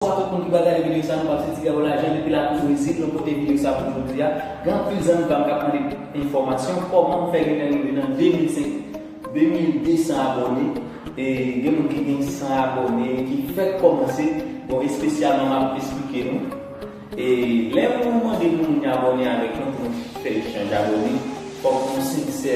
Sa tout moun ki pral gade video sa nou pap se ti gabo lajan depi la koz rezil nou pote video sa pou jodi a gen anpil zanmi pam kap mande enfòmasyon kòman m fè genlè rive nan 2005 2200 abòne e gen moun ki gen 100 abòne ki fèk kòmanse bon espesyalman map esplike nou e lè nou mande pou moun abòne avèk nou pou nou fè echanj abòne fòk nou sensè.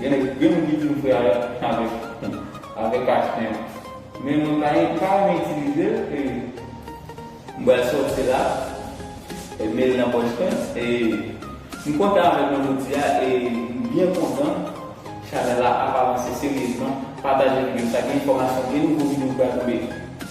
Gen nèg gen moun ki dim fè a avèk avèk achten an men mwen pa e pa renmen itilizel e m bal sòti la e mel nan pòch mwen e m kontan avèk mwen jodia e m byen kontan chanèl la ap avanse seryezman pataje video sa gen enfòmasyon gen nouvo video ki pral tonbe.